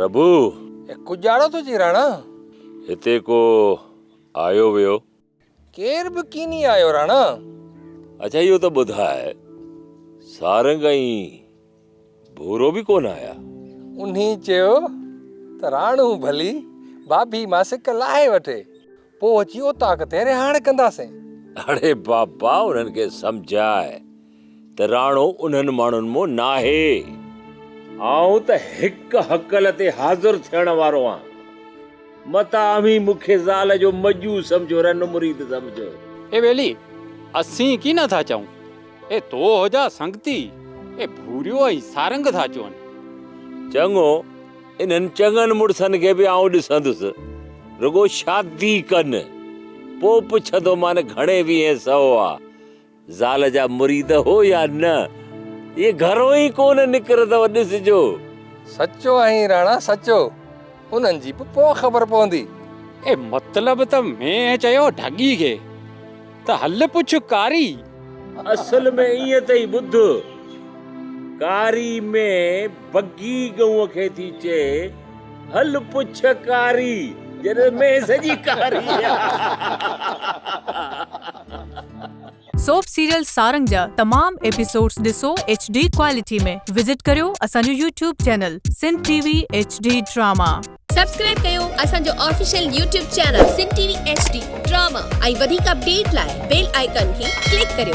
ربو! اي ڪڄاڙو ٿو چئين راڻا! هتي ڪو آيو ويو؟ ڪير به ڪيني آيو راڻا! اڇا اهو ته ٻڌاء سارنگ ۽ ڀورو به ڪونه آيا؟ انهي چيو ته راڻو ڀلي بابي ماسڪ لاهي وٺي. پوء اچي اوطاق تي رهاڻ ڪنداسين. اڙي بابا انهن کي سمجهاء ته راڻو انهن ماڻهن مون ناهي. آئون ته هڪ هڪل تي حاضر ٿيڻ وارو آهيان. متان اوهين مون کي زال جو مڄو سمجهو رن مريد سمجهو. اي ٻيلي اسين ڪي نه ٿا چئون. اي تو هو جا سنگتي اي ڀوريو ۽ سارنگ ٿا چون. چڱو انهن چڱن مڙسن کي به آئون ڏسندس، رڳو شادي ڪن، پوء پڇندومان گهڻي ويهين سئو آ زال جا مريد هو يا نه؟ اهي گهرون ئي ڪونه نڪرندؤ، ڏسجو. سچو آهين راڻا سچو، انهن جي به پوء خبر پوندي. اي مطلب ته مينهن چيو ڍڳي کي. ته هل پڇ ڪاري. اصل ۾ ائين اٿئي ٻڌ. ڪاري ۾ بگي ڳئون کي ٿي چئي هل پڇ ڪاري جڏهن مينهن سڄي ڪاري آ. سوپ سيريل سارنگ جا تمام ايپيسوڊز ڏسو ايڇ ڊي ڪوالٽي ۾ وزٽ ڪريو اسان جو YouTube channel Sindh T V H D drama. Subscribe ڪيو اسان جو official YouTube channel Sindh T V H D drama ۽ وڌيڪ اپڊيٽ لاء بيل آئيڪان کي ڪلڪ ڪريو.